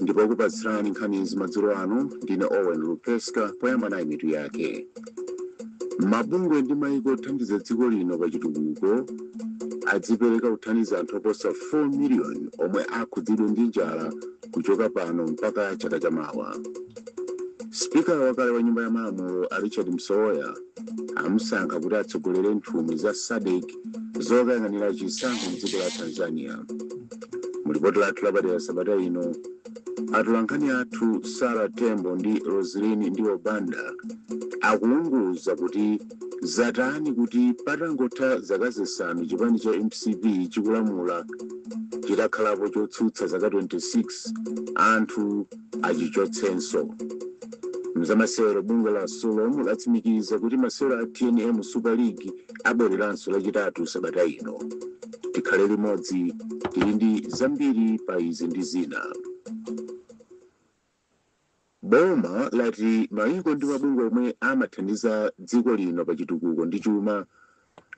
ndipo okupatsirani nkhanizi madzulo ano ndine owen lupeska poyamba nayi mitu yake mabungwe ndi maiko othandiza dziko lino pa chitukuko adzipereka kuthandiza anthu oposa 4 miliyoni omwe akhudzidwe ndi njala kuchoka pano mpaka chaka chamawa spika wakale wa nyumba ya malamulo a richard msowoya amusankha kuti atsogolere nthumwi za sadc zokayang'anira chisankho mdziko la tanzania mulipoti lathu lapadera sabata ino atolankhani athu sara tembo ndi roselin ndiwo banda akuunguza kuti zatani kuti patangotha zaka zisanu chipani cha mcp chikulamula chitakhalapo chotsutsa zaka 26 anthu achichotsenso mzamasewero bungwe la sulom latsimikiza kuti masewero a tnm super league abwereranso lachitatu sabata ino tikhale limodzi tili ndi zambiri pa izi ndi zina boma lati maiko ndi mabungwe omwe amathandiza dziko lino pa chitukuko ndi chuma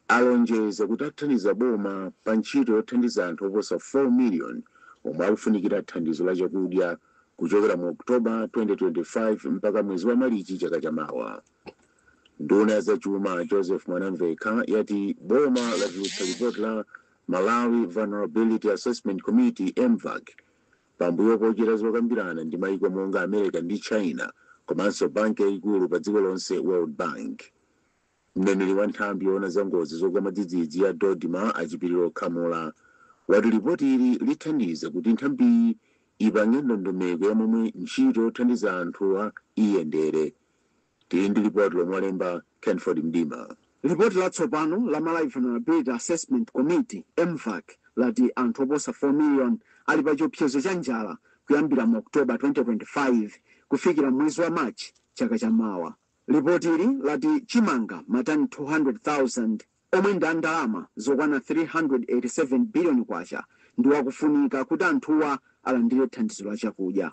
alonjeza kuti athandiza boma pa ntchito yothandiza anthu oposa 4 million omwe akufunikira thandizo la chakudya kuchokera mu oktoba 2025 mpaka mwezi wa malichi chaka chamawa Nduna ya zachuma Joseph Mwanamvekha yati boma latulutsa lipoti la Malawi Vulnerability Assessment Committee, MVAC, pambuyo pochita zokambirana ndi maiko monga America ndi China komanso banki yaikulu padziko lonse, World Bank. Mneneri wa nthambi yoona za ngozi zogwa mwadzidzidzi ya DoDMA a Chipiliro Khamula wati lipotili lithandiza kuti nthambiyi ipange ndondomeko ya momwe ntchito yothandiza anthuwa iyendere. Tili ndi lipoti lomwe walemba Kenford Mdima. Lipoti latsopano la Malawi Vulnerability Assessment Committee, MVAC, lati anthu oposa 4 million ali pa chiopsezo cha njala kuyambira mu October 2025 kufikira mwezi wa March chaka cha mawa. Lipotili lati chimanga matani 200,000 omwe ndi a ndalama zokwana K387 biliyoni ndiwo akufunika kuti anthuwa alandire thandizo la chakudya.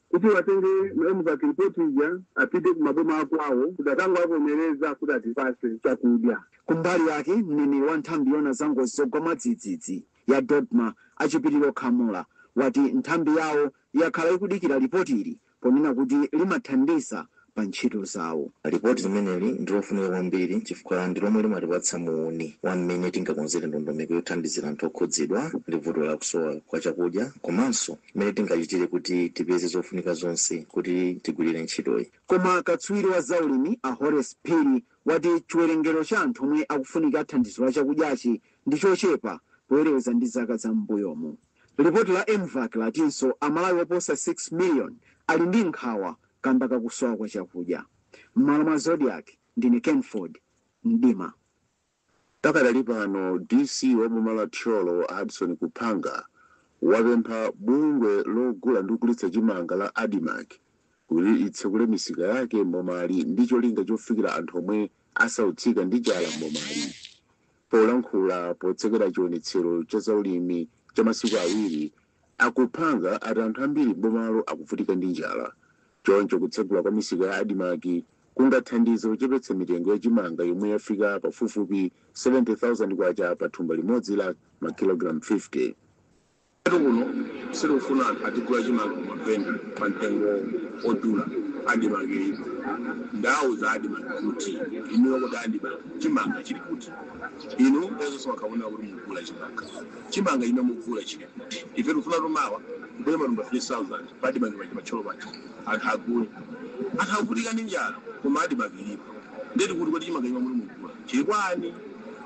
kuti watenge ma MVAC report ija apite ku maboma akwawo kuti akangovomereza kuti atipase chakudya. Kumbali yake, mneneri wa nthambi yoona za ngozi zogwa mwadzidzidzi ya DoDMA, a Chipiliro Khamula, wati nthambi yawo yakhala ikudikira lipotili ponena kuti limathandiza pa ntchito zawo. Lipoti limeneli ndi lofunika kwambiri chifukwa ndi lomwe limatipatsa muuni wa mmene tingakonzere ndondomeko yothandizira anthu okhudzidwa ndi vuto la kusowa kwa chakudya komanso mmene tingachitire kuti tipeze zofunika zonse kuti tigwirire ntchitoyi. Koma katswiri wa zaulimi a Horace Phiri wati chiwerengero cha anthu omwe akufunika thandizo la chakudyachi ndi chochepa poyerekeza ndi zaka za m'mbuyomu. Lipoti la Mvac latinso Amalawi oposa 6 miliyoni ali ndi nkhawa kamba ka kusowa kwa chakudya. M'malo mwa Zodiak, ndine Kenford Mdima. Pakadali pano, DC wa boma la Thyolo a Hudson Kuphanga wapempha bungwe logula ndi kugulitsa chimanga la Admarc kuti litsekule misika yake m'bomali ndi cholinga chofikira anthu omwe asautsika ndi njala m'bomali. Polankhula potsekera chionetsero cha zaulimi cha masiku awiri, a Kuphanga ati anthu ambiri m'bomalo akuvutika ndi njala choncho kutsegula kwa misika ya Admarc kungathandize kuchepetsa mitengo ya chimanga yomwe yafika pafupifupi K70,000 pa thumba limodzi la makilogalamu 50. Komatu kuno sitikufuna kuti anthu adzigula chimanga kumavenda pa mtengo odula admarc ilipo ndawauza admarc kuti inuyo kodi admarc chimanga chili kuti inu nthawi zonse mukunena kuti mugula chimanga chimanga chimene mugula chili kuti ife tikufuna tione mubwere matumba 3000 pa admarc paja pa Thyolo paja anthu agule anthu akuvutika ndi njala koma admarc ilipo ndiye ndikuti kodi chimanga chimene muli mugula chili kuti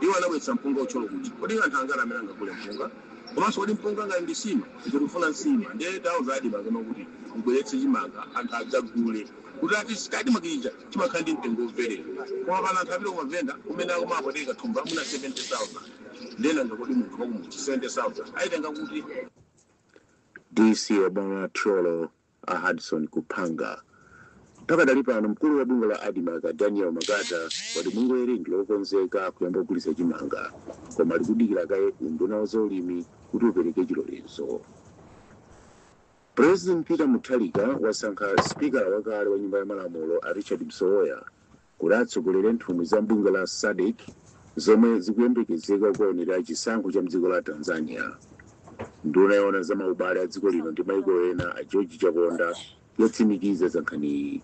iwo anabweretsa mpunga ku Thyolo kuti kodi anthu angati amene angagule mpunga komanso kodi mpunga ngati ndi nsima ife tikufuna nsima ndiye tauza admarc kuti mubweretse chimanga anthu adzagule kuti ku admarc chija chimakhala ndi mtengo womverera koma pano anthu apita kumavenda kumene akumawapweteka thumba muno 70000 ndiye nanga kodi munthu wakumudzi 70000 ayitenga kuti DC wa boma la Thyolo a Hudson Kuphanga. Pakadali pano mkulu wa bungwe la Admarc a Daniel Makata wati bungweli ndi lokonzeka kuyamba kugulitsa chimanga koma likudikira kaye unduna wa zaulimi kuti upereke chilolezo. President Peter Mutharika wasankha sipikala wakale wa nyumba ya malamulo a Richard Msowoya kuti atsogolere nthumwi za m'bungwe la SADC zomwe zikuyembekezeka kukaonera chisankho cha mdziko la Tanzania. Nduna yoona za maubale a dziko lino ndi maiko ena a George Chaponda yatsimikiza za nkhaniyi.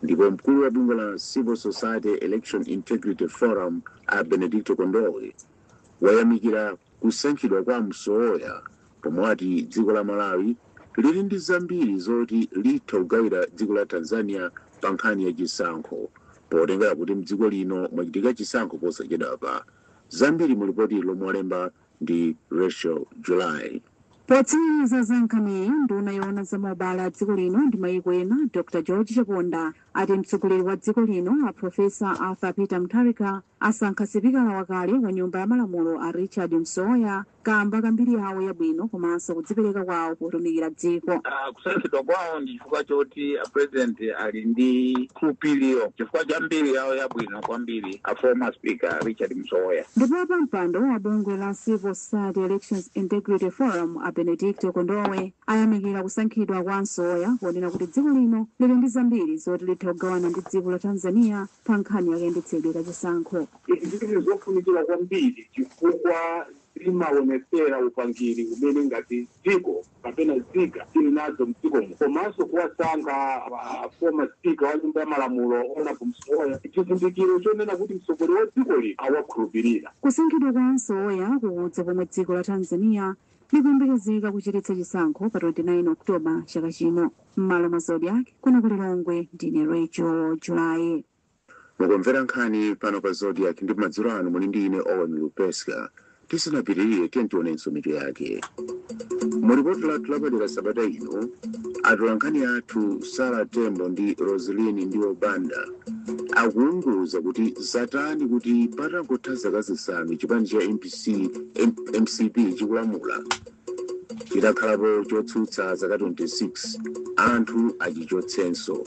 Ndipo mkulu wa bungwe la Civil Society Election Integrity Forum a Benedicto Kondowe wayamikira kusankhidwa kwa Msowoya Pomwe ati dziko la Malawi lili ndi zambiri zoti litha kugawira dziko la Tanzania pa nkhani ya chisankho potengera kuti mdziko lino mwachitika chisankho posachedwapa zambiri mu lipotili ili lomwe walemba ndi Rachel July. Potsimikiza za nkhaniyi, nduna yoona za maubale a dziko lino ndi mayiko ena Dr George Chaponda ati mtsogoleri wa dziko lino a Professor Arthur Peter Mutharika asankha sipikala wakale wa nyumba ya malamulo a Richard Msowoya kaamba ka mbiri yawo yabwino komanso kudzipereka kwawo potumikira dziko. Ah, kusankhidwa kwawo ndi chifukwa choti a president ali ndi khulupiriro chifukwa cha mbiri yawo yabwino kwambiri a former speaker richard msowoya ndipo apampando wa bungwe la civil society elections integrity forum a benedicto kondowe ayamikira kusankhidwa kwa msowoya ponena kuti dziko lino lili ndi zambiri zoti litha kugawana ndi dziko la tanzania pa nkhani yakayendetsedwe ka chisankho Izi ziri zofunikira kwambiri chifukwa limawonetsera upangiri umene ngati dziko kapena zika tiri nazo mdziko muno komanso kuwasankha a former speaker wa nyumba ya malamulo Honorable Msowoya ndi chizindikiro chonena kuti mtsogoleri wa dziko lino awakhulupirira. Kusankhidwa kwa a Msowoya kukudza pomwe dziko la Tanzania likuyembekezeka kuchititsa chisankho pa 29 October chaka chino. M'malo mwa Zodiak kuno ku Lilongwe ndine Rachel July. Mukumvera nkhani pano pa Zodiak ndipo madzulo ano muli ndi ine Owen Lupeska. Tisanapitirire tiyeni tionenso mitu yake. Mu lipoti lathu lapadera sabata ino, atolankhani athu Sarah Tembo ndi Roseline Ndiwo Banda akuunguza kuti zatani kuti patangotha zaka zisanu chipani cha MPC, M- mcp chikulamula chitakhalapo chotsutsa zaka 26 anthu achichotsenso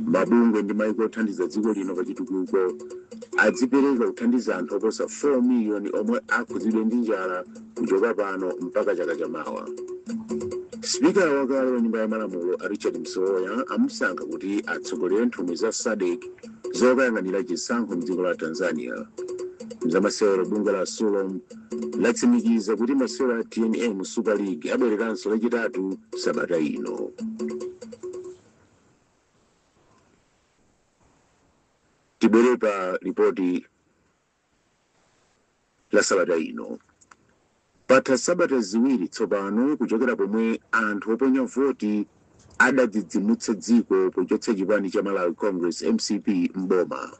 mabungwe ndi maiko othandiza dziko lino pa chitukuko adzipereka kuthandiza anthu oposa 4 miliyoni omwe akhudzidwe ndi njala kuchoka pano mpaka chaka chamawa spikala wakale wa nyumba ya malamulo a richard msowoya amusankha kuti atsogolere nthumwi za sadc zokayang'anira chisankho mdziko la tanzania mzamasewero bungwe la sulom latsimikiza kuti masewero a tnm super league abwereranso lachitatu sabata ino tibwere pa ripoti la sabata ino patha sabata ziwiri tsopano kuchokera pomwe anthu oponya voti adadzidzimutsa dziko pochotsa chipani cha malawi congress mcp mboma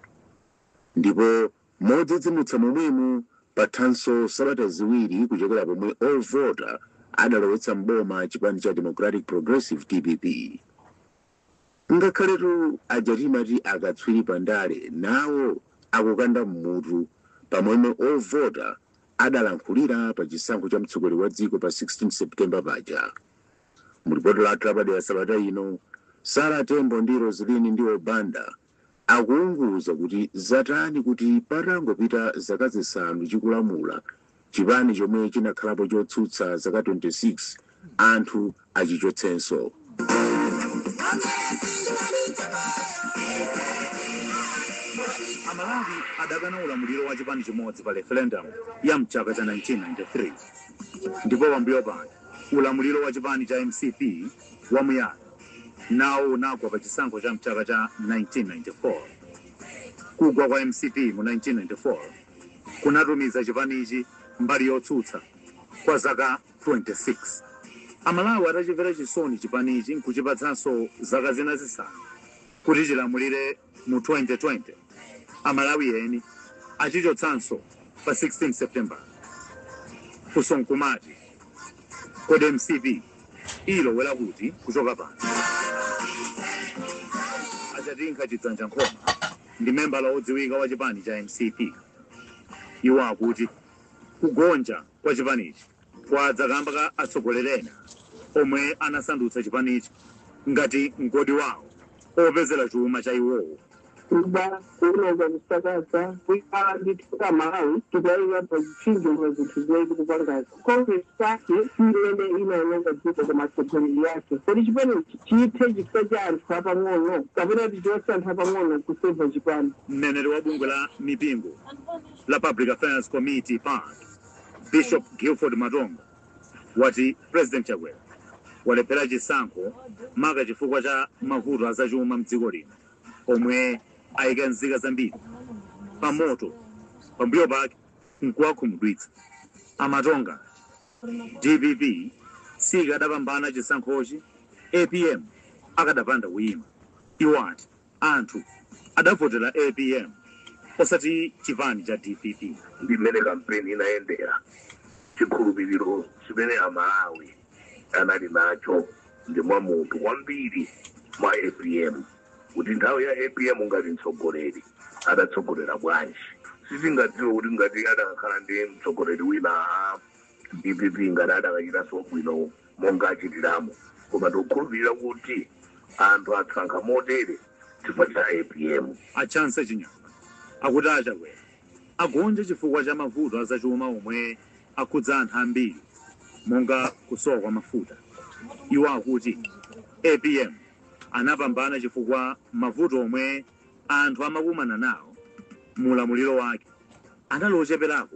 ndipo Modzidzimutsa momwemu, pathanso sabata ziwiri kuchokera pomwe ovota adalowetsa m'boma chipani cha Democratic Progressive, dpp. Ngakhaletu aja timati akatswiri pa ndale nawo akukanda m'mutu pa momwe ovota adalankhulira pa chisankho cha mtsogoleri wa dziko pa 16 September paja. Mu lipoti lathu lapadera sabata ino, Sarah Tembo ndi Roseline Ndiwo Banda akuunguza kuti zatani kuti patangopita zaka zisanu chikulamula, chipani chomwe chinakhalapo chotsutsa zaka 26 anthu achichotsenso. Amalawi adakana ulamuliro wa chipani chimodzi pa referendum ya mchaka cha 1993 ndipo pambuyo pake ulamuliro wa chipani cha mcp wamuyaya nawo unagwa pa chisankho cha mchaka cha 1994. Kugwa kwa mcp mu 1994 kunatumiza chipanichi mbali yotsutsa kwa zaka 26. Amalawi atachimvera chisoni chipanichi nkuchipatsanso zaka zina zisanu kuti chilamulire, Mu 2020, Amalawi eni achichotsanso pa 16 September. Funso nkumati, kodi mcp ilowera kuti kuchoka pano? A Chatinkha Chidzanja Nkhoma ndi membala wodziwika wa chipani cha mcp. Iwo akuti kugonja kwa chipanichi kwadza kamba ka atsogoleri ena omwe anasandutsa chipanichi ngati mgodi wawo opezera chuma cha iwowo. kuba kuononga kusakaza kuikala ndithu ka malawi tikuyalira pa zitchinjo mwa zinthu zimene tikupangazi congress party si imene inaononga dziko koma atsogoleri yake kodi chipani chithe chifukwa cha anthu apang'ono kapena tichotse anthu apang'ono kuseva chipani Mneneri wa bungwe la mipingo la Public Affairs Committee, pac, Bishop Gilford Matonga wati President Chakwera walephera chisankho maka chifukwa cha mavuto azachuma mdziko lino omwe ayika nzika zambiri pa moto pambuyo pake nkuwakhumudwitsa a Matonga dpp sikadapambana chisankhochi apm akadapanda kuyima iwo ati Anthu adavotera apm osati chipani cha dpp. ndi mmene kampeni inayendera chikhulupiriro chimene amalawi anali nacho ndi mwa munthu kwambiri mwa apm kuti nthawi ya apm ngati mtsogoleri adatsogolera bwanji sitingadziwe kuti ngati adakakhala ndi mtsogoleri wina a dpp ngati adakachitanso bwino monga achitiramo, koma tikukhulupirira kuti anthu asankha motere chifukwa cha apm. A Chansa Chinyama akuti a Chakwera agonja chifukwa cha mavuto a zachuma omwe akhudza anthu ambiri monga kusowa kwa mafuta. Iwo akuti apm anapambana chifukwa mavuto omwe anthu amakumana nawo mu ulamuliro wake anali ocheperako.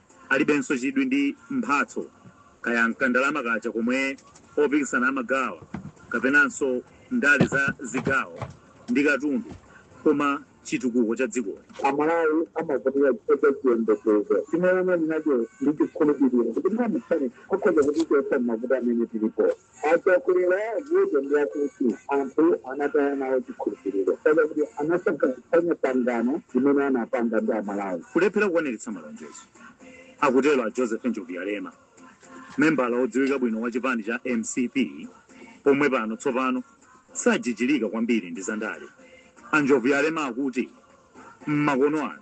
Alibenso chidwi ndi mphatso, kaya m'ka ndalama kaja komwe opikisana amagawa kapenanso ndale za zigawo ndi katundu koma chitukuko cha dziko lino. Amalawi amavota chifukwa cha chiyembekezo chimene anali nacho ndi chikhulupiriro kuti mwamsanga akhoza kutichotsa m'mavuto amene tilipowa. A Chakwera vuto ndi lakuti anthu anataya nawo chikhulupiriro chifukwa chakuti anasokoneza pangano limene anapanga ndi Amalawi. Kulephera kukwaniritsa malonjezo, akutero a Joseph Njobvuyalema, membala wodziwika bwino wa chipani cha mcp omwe pano tsopano sajijirika kwambiri ndi zandale. A Njobvuyalema akuti m'makono ano,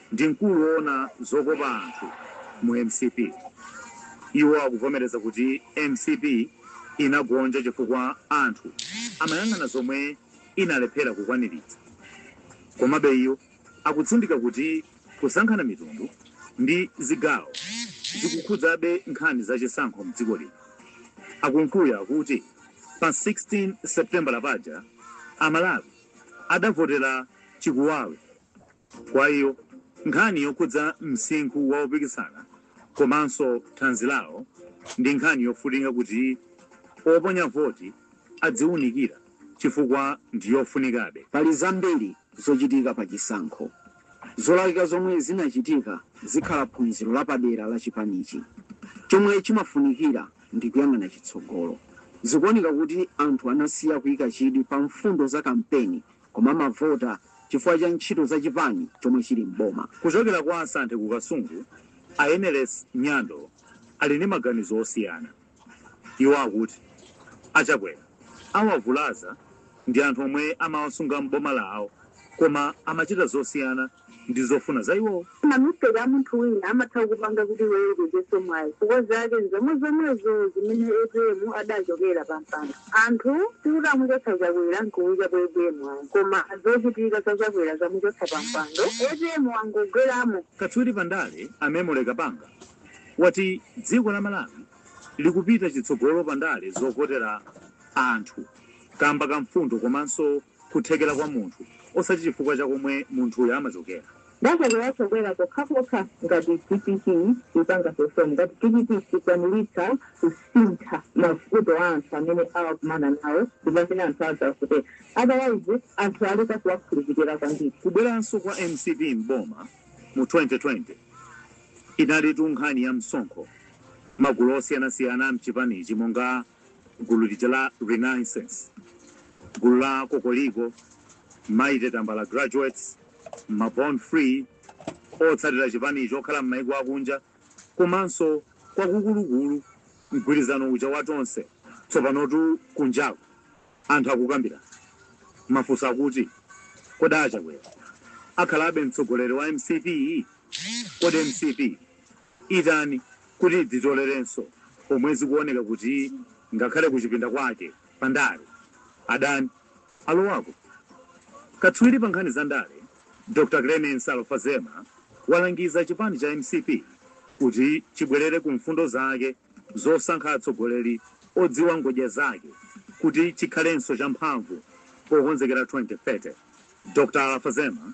ndi mkulu oona zokopa anthu mu mcp. Iwo akuvomereza kuti mcp inagonja chifukwa anthu amayang'ana zomwe inalephera kukwaniritsa. Komabe iwo akutsindika kuti kusankhana mitundu ndi zigawo zikukhudzabe nkhani za chisankho mdziko lino. A Kunkuyu akuti pa 16 Seputembala paja a Malawi adavotera chikuwawe. Kwa iwo, nkhani yokhudza msinkhu wa opikisana komanso thanzi lawo ndi nkhani yofunika kuti oponya voti adziunikira chifukwa ndi yofunikabe. Pali zambiri zochitika pa chisankho. Zolakwika zomwe zinachitika zikhala phunziro lapadera la chipanichi. Chomwe chimafunikira ndi kuyang'ana chitsogolo. Zikuoneka kuti anthu anasiya kuika chidwi pa mfundo za kampeni koma amavota chifukwa cha ntchito za chipani chomwe chili m'boma. Kuchokera kwa Santhe ku Kasungu, a Eneles Nyando ali ndi maganizo osiyana. Iwo akuti a Chakwera awavulaza ndi anthu omwe amawasunga m'boma lawo koma amachita zosiyana. ndi zofuna za iwowo. Ma mistake amunthu wina amatha kupanga kuti iweyo upezenso mwayi chifukwa zake nzomwezomwezo zimene apm adachokera pa mpando. Anthu sikuti amuchotsa Chakwera nkuikapo apm ayi koma zochitika za Chakwera zamuchotsa pa mpando, apm wangogweramo. Katswiri pa ndale a Memory Kapanga wati dziko la Malawi likupita chitsogolo pa ndale zovotera anthu kamba ka mfundo komanso kuthekera kwa munthu osati chifukwa cha komwe munthuyo amachokera. Ndasekeranso kwera pokhapokha ngati dpp ipanga perform, ngati dpp sikwanilitsa kusintha mavuto a anthu amene awakumana nawo ndipamene anthu azavotera otherwise anthu aleka kuwakhulupilira kwambiri. Kubweranso kwa mcp m'boma mu 2020 inalitu nkhani ya msonkho. Magulu osiyanasiyana am'chipanichi monga. Gulu lija la Renaissance, gulu la Kokoliko, Mighty Tambala Graduates, ma Born Free, otsatira chipanicho okhala m'mayiko akunja komanso kwakukulukulu mgwirizano uja wa Tonse. Tsopanotu kunjaku anthu akukambira mafunso akuti, Kodi a Chakwera akhalabe mtsogoleri wa mcp? Kodi mcp itani kuti idzitolerenso pomwe zikuoneka kuti ngakhale kuchipinda kwake pa ndale adani alowako. Katswiri pa nkhani za ndale Dr Clemence Alfazema walangiza chipani cha mcp kuti chibwerere ku mfundo zake zosankha atsogoleri odziwa ngodya zake kuti chikhalenso champhamvu pokonzekera 2030. Dr Alfazema.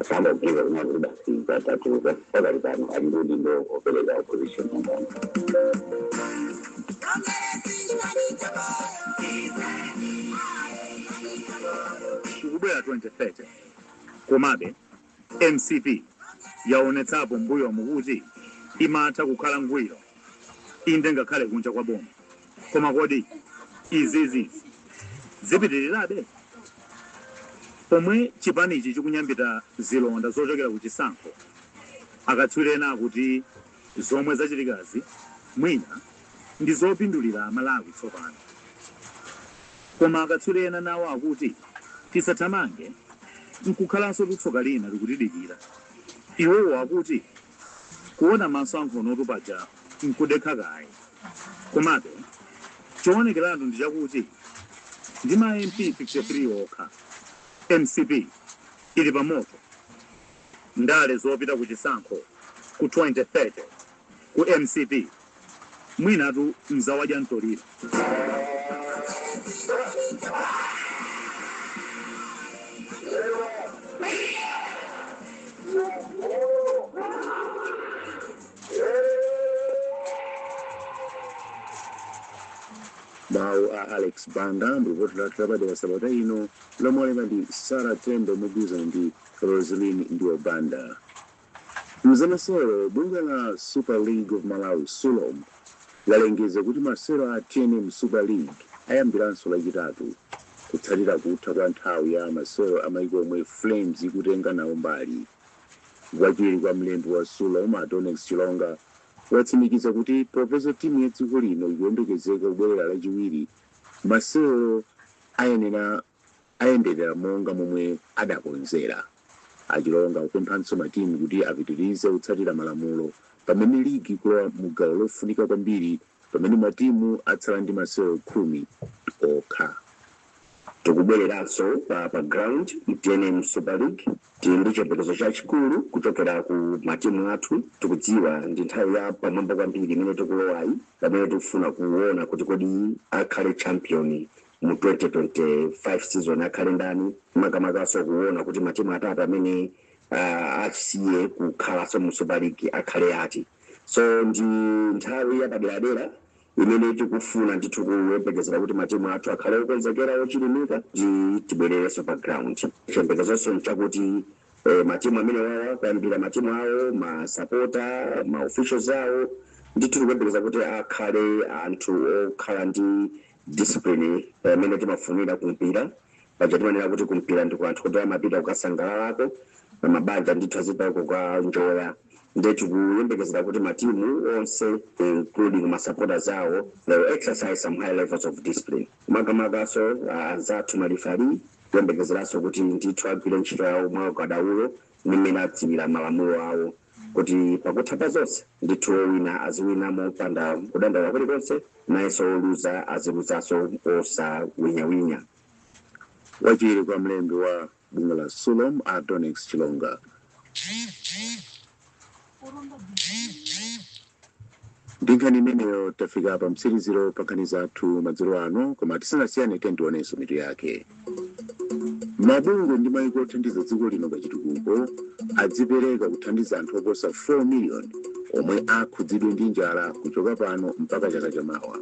Asamaganize kunena kuti basi zatatuka pakali pano ali ndi udindo opereka opposition umboni. ikubwera 2030 komabe mcp yaonetsapo mbuyomu kuti imatha kukhala ngwiro inde ngakhale kunja kwa boma Koma kodi izizi zipitirirabe? Pomwe chipanichi chikunyambita zilonda zochokera ku chisankho, akatswiri ena akuti zomwe zachitikazi mwina ndi zopindulira Malawi tsopano. Koma akatswiri ena nawo akuti tisathamange n'kukhalansotu tsoka lina likutidikira. Iwowo akuti Kuona maso a nkhonotu paja nkudekha kaye. Komabe, choonekeratu ndi chakuti ndi ma MP 53 okha, mcp ili pamoto. Ndale zopita kuchisankho ku 2030 ku mcp. Mwinatu n'za wadya ntoliro. mawu a alex banda mu lipoti lathu lapadera sabata ino lomwe alemba ndi sara tembo mogwirizana ndi roslin ndiwo banda Mzamasewero, Bungwe la Super League of Malawi, Sulom, lalengeza kuti masewero a TNM Super League ayambiranso lachitatu kutsatira kutha kwa nthawi ya masewero amaiko omwe Flames ikutenga nawo mbali. Wachiwiri kwa mlembi wa Sulom, a Donnex Chilonga, watsimikiza kuti popeza timu ya dziko lino ikuyembekezeka kubwerera lachiwiri, masewero ayendera. ayenderera monga momwe adakonzera. A Chilonga akupemphanso matimu kuti apitirize kutsatira malamulo pamene ligi ikulowa mu gawo lofunika kwambiri pamene matimu atsala ndi masewero khumi okha. Tikubwereranso pa pa ground ku tnm super league tili ndi chiyembekezo chachikulu kuchokera ku matimu athu. Tikudziwa ndi nthawi ya pamwamba kwambiri imene tikulowayi pamene tikufuna kuona kuti kodi akhale champion mu 2025 season akhale ndani makamakaso kuona kuti matimu atatu amene uh, asiye kukhalanso mu super league akhale ati so ndi nthawi yapaderadera imene tikufuna ndithu kuyembekezera kuti matimu athu akhale okonzekera ochilimika kuti tibwererenso pa ground chiyembekezonso nchakuti eh, matimu amene wawa kuyambira matimu awo masapota maofficials awo ndithu tikuyembekeza kuti akhale anthu okhala ndi discipline imene timafunira kumpira paja timanena kuti kumpira ndi kwa anthu kuti amapita kukasangalalako mabanja ndithu azipita kukanjoya nde tikuyembekezera kuti matimu onse including masupporters awo they will exercise some high levels of discipline makamakaso anzathu malifali kuyembekezeranso kuti ndithu agwire ntchito yawo mwa ukadaulo ndi mmene adziwira malamulo awo kuti pakutha pa zonse, ndithu wowina aziwina mopanda kudandaula kulikonse, nayenso woluza aziluzanso osawinyawinya. Wachiwiri kwa mlembi wa bungwe la Sulom a Donnex Chilonga. Ndi nkhani imeneyo tafika pa mtsiriziro pa nkhani zathu madzulo ano, koma tisanasiyane tiyeni tionenso mitu yake. Mabungwe ndi mayiko othandiza dziko lino pa chitukuko adzipereka kuthandiza anthu oposa 4 miliyoni omwe akhudzidwe ndi njala kuchoka pano mpaka chaka chamawa.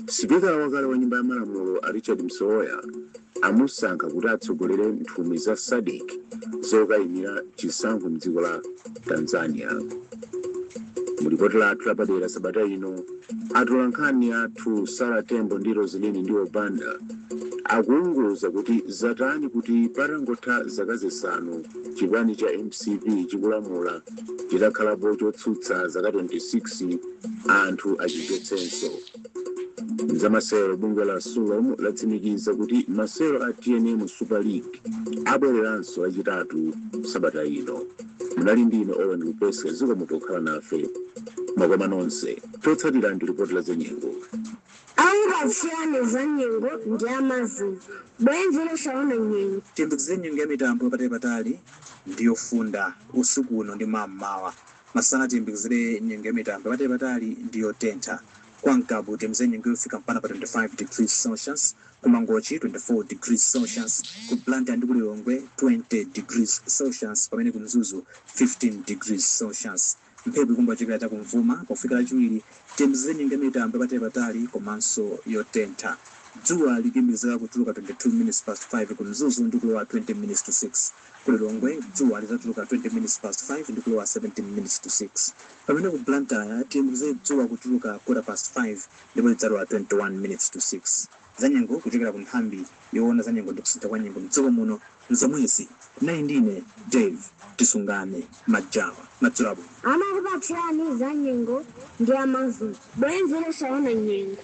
Sipikala wakale wa nyumba ya malamulo a Richard Msowoya amusankha kuti atsogolere nthumwi za sadc zokayimira chisankho mdziko la tanzania mu lipoti lathu lapadera sabata ino atolankhani athu sara tembo ndi roselini ndiwo banda akuunguza kuti zatani kuti patangotha zaka zisanu chipani cha mcp chikulamula chitakhalapo chotsutsa zaka 26 anthu achichotsenso zamasewero bungwe la sulom latsimikiza kuti masewero a tnm super league abwereranso lachitatu sabata ino munali ndi ine owen lupeska zikomo pokhala nafe makomo onse chotsatira ndi ripoti la zanyengo okupatsirani za nyengo ndi amazoe bwenzi losaona nyengo tiyembekezere nyengo ya mitambo yapatali patali ndi yofunda usiku uno ndi mammawa Masana tiyembekezere nyengo ya mitambo yapatali patali ndi yotentha. Kwa Ngabu tiyembekezere nyengo yofika mpaka pa 25 degrees Celsius, ku Mangochi 24 degrees Celsius, ku Blantyre ndi ku Lilongwe 20 degrees Celsius pamene ku Mzuzu 15 degrees Celsius. Mphepo ikhala kuchokera cha kum'vuma. Pofika Lachiwiri tiyembekezere nyengo ya mitambo yapatali patali komanso yotentha. Dzuwa likuyembekezeka kutuluka 22 minutes past 5 ku Mzuzu ndi kulowa 20 minutes to 6. Ku Lilongwe dzuwa lizatuluka 20 minutes past 5 ndikulowa 17 minutes to 6 pamene ku Blantyre tiyembekeze dzuwa kutuluka quarter past 5 ndipo lidzalowa 21 minutes to 6. Zanyengo kuchokera ku nthambi yowona za nyengo ndi kusintha kwa nyengo m'dziko muno n'zomwezi. Munali ndi ine Dave Tisungane Majawa. Madzulo abwino. Amakupatsirani za nyengo ndi a Mazoe, bwenzi losaona nyengo.